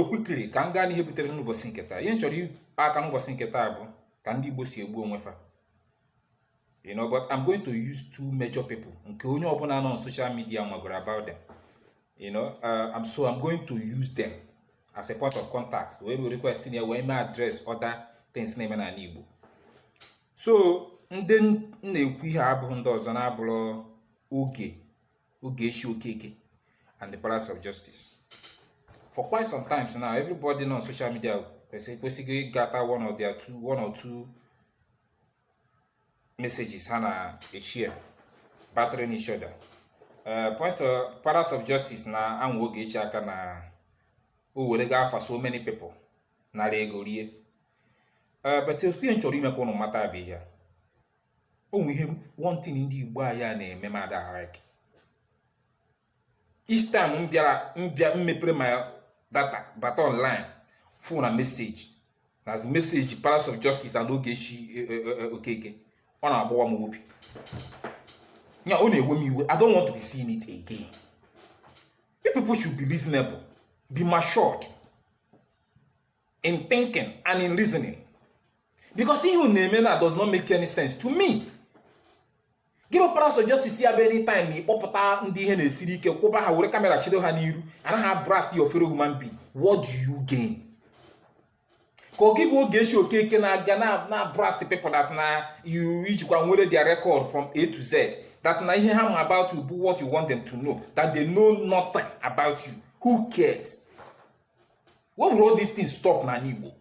quickly ka m gaa n'ihe butere n'ụbọchị nke taa ihe m chọrọ ịkpa aka n'ụbọchị nke taa bụ ka ndị Igbo si egbu onwe fa you know but I'm going to use two major people nke onye ọbụla nọ on social media magoro about them you know uh, I'm so I'm going to use them as a point of contact wee were request ya wee mee address other things na-eme n'ala Igbo so ndị m na-ekwu ihe abụghị ndị ọzọ na-abụrọ Oge Ogechi Okeke and the Palace of Justice for quite some times now everybody on social media kwesịrị ịgụta one of their two one or two messages ha na-eshare battering each other eh, point of Palace of Justice na-anwa Ogechi aka na o werego afa so many people nara ego rie eh, but otu ihe m chọrọ ime ka ụnụ mata bụ ihe o nwe ihe one thing ndị Igbo anyị a na-eme m ada like each time m bịara m bịa m mepere my data bata online fụ na message na message Palace of Justice and Ogechi e, e, e, Okeke ọ na-agbawa m obi ya ọ na-ewe m iwe I don't want to be seeing it again you people should be reasonable be matured in thinking and in reasoning because ihe unu na-eme na does not make any sense to me gị bụ Palace of Justice ya bụ anytime na ị kpọpụta ndị ihe na-esiri ike kwụba ha were kamera chido ha n'iru na-ablast your fellow human being what do you gain ka ọ gị bụ Ogechi Okeke na-aga na-ablast people that na you ijikwa nwere their record from a to z that na ihe ha ma about you bụ what you want them to know that they know nothing about you who cares When will all these things stop na Igbo?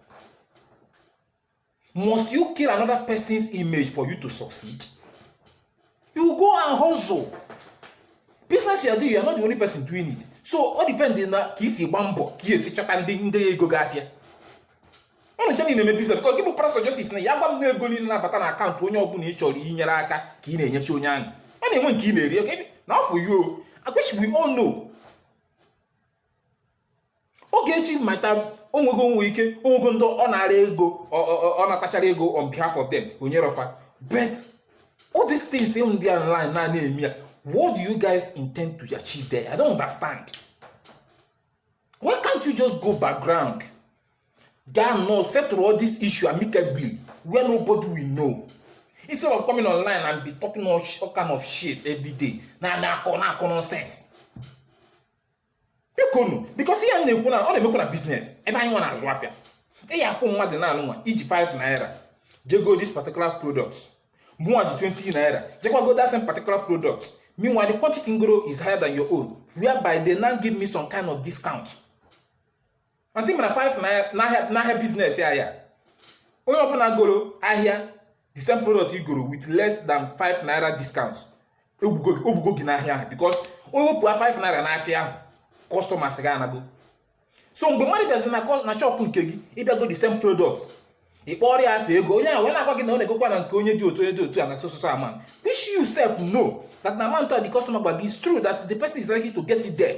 Must you kill another person's image for you to succeed? You go and hustle. Business you are doing, you are not the only person doing it. So all depends na ka i si gba mbọ ka i si chọta ndị ndị ego gị afịa. Ụnụ ncha na-eme business because gị bụ Palace of Justice na ị ya-agwa m na ego niile na-abata na account onye ọbụla ị chọrọ inyere aka ka ị na-enyecha onye ahụ. Ọ na-enwe nke ị na-eri na ọ bụ you. I wish we all know Ogechi might have o nwego o nwe ike o nwego ndị ọ nara ego ọ natachara ego on behalf of them o nyerọ fa but all these things unu dị online na na-eme ya what do you guys intend to achieve there i don't understand why can't you just go background gaa nọọ settle all this issue amicably where nobody will know instead of coming online and be talking all, all kind of shit every day na na-akọ na-akọ nonsense bikonu because ihe a na-ekwu na ọ na-emekwa na business ebe anyị nwa na-azụ afịa ị ya-afụ mmadụ na-alụ nwa i ji 5 naira je go this particular product mụnwa ji 20 naira jekwa go that same particular product meanwhile the quantity m goro is higher than your own whereby they now give me some kind of discount mata ị mara 5 naira na business ahịa onye ọbụla goro ahịa the same product i goro with less than 5 naira discount o gbugo gị n'ahịa ahụ because o wepụ 5 naira n'ahịa ahụ customers gị anago so mgbe mmadụ bịazi na shop nke gị ịbịa go the same product ị kpọrọ ya afa ego onye ahụ wee na-agwa gị na ọ na-egokwa na nke onye dị otu onye dị otu a na so so so amount which you self know that the amount of the customer gwa gị is true that the person is likely to get it there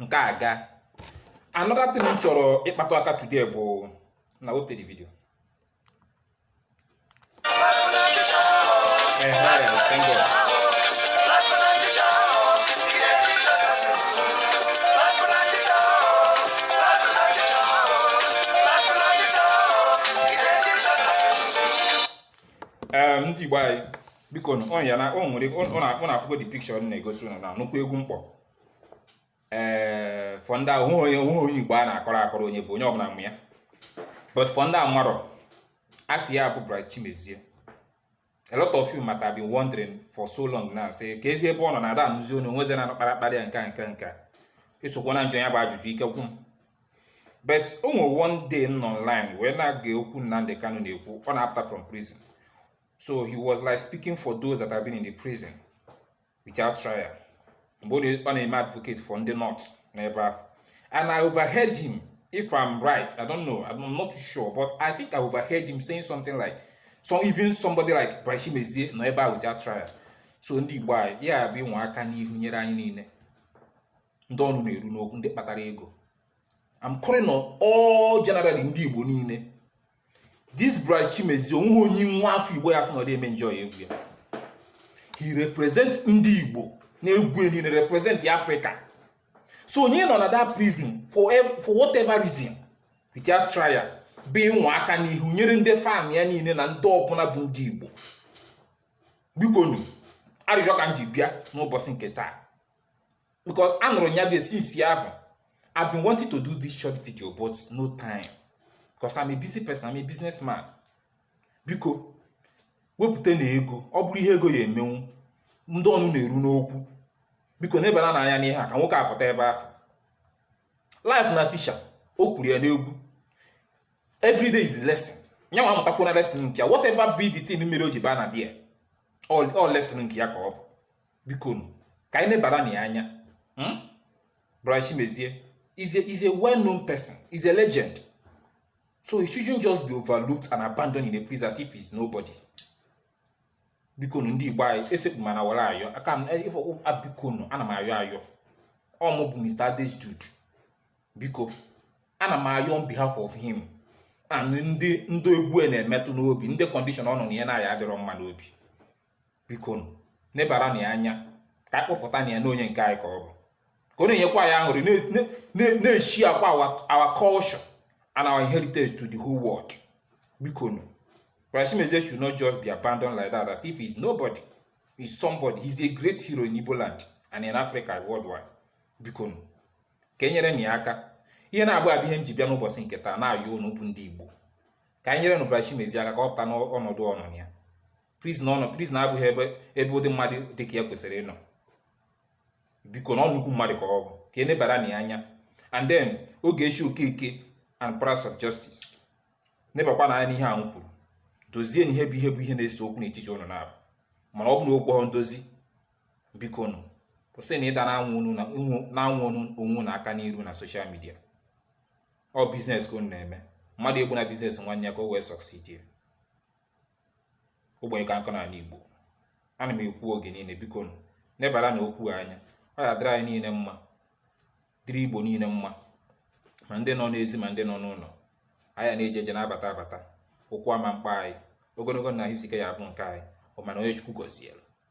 nke a gaa another thing m chọrọ ịkpatụ aka today bụ na o tere video Hey, hi, thank God. ndị Igbo anyị biko ọ ya na ọ nwere ụnụ afụgo the picture na-egosi ụnụ na nnukwu egwu mkpọ ee eh, for ndị ahụ onye onwe onye Igbo a na-akọrọ akọrọ onye bụ onye ọbụla ma ya but for ndị amarọ afa ya bụ Bright Chimezie a lot of you must have been wondering for so long now sị keezi ebe ọ nọ na ada anụzi onye onweze na anọkpara akpara ya nke a nke nke ị sokwa na-ajụ ya bụ ajụjụ ike kwu m but o nwere one day m nọ online wee na-ege okwu Nnamdi Kanu na-ekwu ọ na-apụta from prison so he was like speaking for those that have been in the prison without trial mgbe ọ na-eme advocate for ndị nọ n'ebe ahụ and i overheard him if i'm right i don't know i'm not sure but i think i overheard him saying something like so even somebody like Bright Chimezie nọ ebe ahụ without trial so ndị Igbo anyị ya bụ ịnwa aka n'ihu nyere anyị niile ndị ọnụ na-eru n'okwu ndị kpatara ego I'm calling on all generally ndị Igbo niile this Bright Chimezie onweghị onye nwa afọ Igbo ya-asị na ọ dị eme enjoy egwu ya he represent ndị Igbo n'egwu niile represent Africa so onye nọ na that prison for, for whatever reason without trial bụ ịnwa aka n'ihu nyere ndị fan ya niile na ndị ọbụla bụ ndị Igbo bikonu arịrịọ ka m ji bịa n'ụbọchị nke taa because anụrụ ya bụ ihe since ahụ I've been wanting to do this short video but no time because I'm a busy person I'm a businessman biko wepụtanụ ego ọ bụrụ ihe ego ya-emenwu ndị ọnụ na-eru n'okwu biko nebanụ anya n'ihe a ka nwoke a pụta ebe ahụ life na teacher o kwuru ya n'egwu every day is a lesson nya nwa amụtakwana lesson nke ya whatever be the thing mere o ji baa na there ọ lesson nke ya ka ọ bụ bikonu ka anyị nebara na ya anya hmm? Bright Chimezie is a, is a well-known person is a legend so he shouldn't just be overlooked and abandoned in a prison as if he's nobody bikonu ndị Igbo anyị esekpu m ana were ayọ aka m eh, bikonu ana m ayọ ayọ ọ mụ bụ Mr. Adejude biko ana m ayọ on behalf of him and ndị ndị egwu na-emetụ n'obi ndị condition ọ nọ na ya adịrọ mma n'obi biko nebara na ya anya ka anyị kpọpụta na ya na onye nke anyị ka ọ bụ ka ọ na-enyekwa anyị aṅụrị na-eshowkwa our culture and our heritage to the whole world biko nụ Bright Chimezie should not just be abandoned like that as if he's nobody he's somebody he's a great hero in Igbo land and in Africa worldwide biko nụ ka e nyere na ya aka ihe naabọ a bụ ihe m ji bịa n'ụbọchị nke taa na-ayọ unu bụ ndị Igbo ka anyị nyere nụ Bright Chimezie aka ka ọ pụta n'ọnọdụ ọ nọ ya prison ọ nọ prison abụghị ebe ebe ụdị mmadụ dị ka ya kwesịrị ịnọ biko na ọ nnukwu mmadụ ka ọ bụ ka e nebara na ya anya and then Ogechi Okeke and Palace of Justice nebakwa na anya n'ihe ahụ kwuru dozie na ihe bụ ihe bụ ihe na-ese okwu n'etiti unu naabọ mana ọ bụ na okwu ndozi biko nụ kwụsị na ịda na-anwụ onwe unu aka n'iru na social media ọ business ka unu na-eme mmadụ egbuna business nwanne ya ka o wee succeed ogbenye ka nkụ n'ala Igbo ana m ekwu oge niile biko nụ nebara na okwu anya ọ ya-adịrị anyị niile mma dịrị Igbo niile mma ma ndị nọ n'ezi ma ndị nọ n'ụlọ anyị na-eje eje na-abata abata ụkwụ ama akpọ anyị ogologo na ahụ isi ike ya-abụ nke anyị ọ mana onye Chukwu gọziere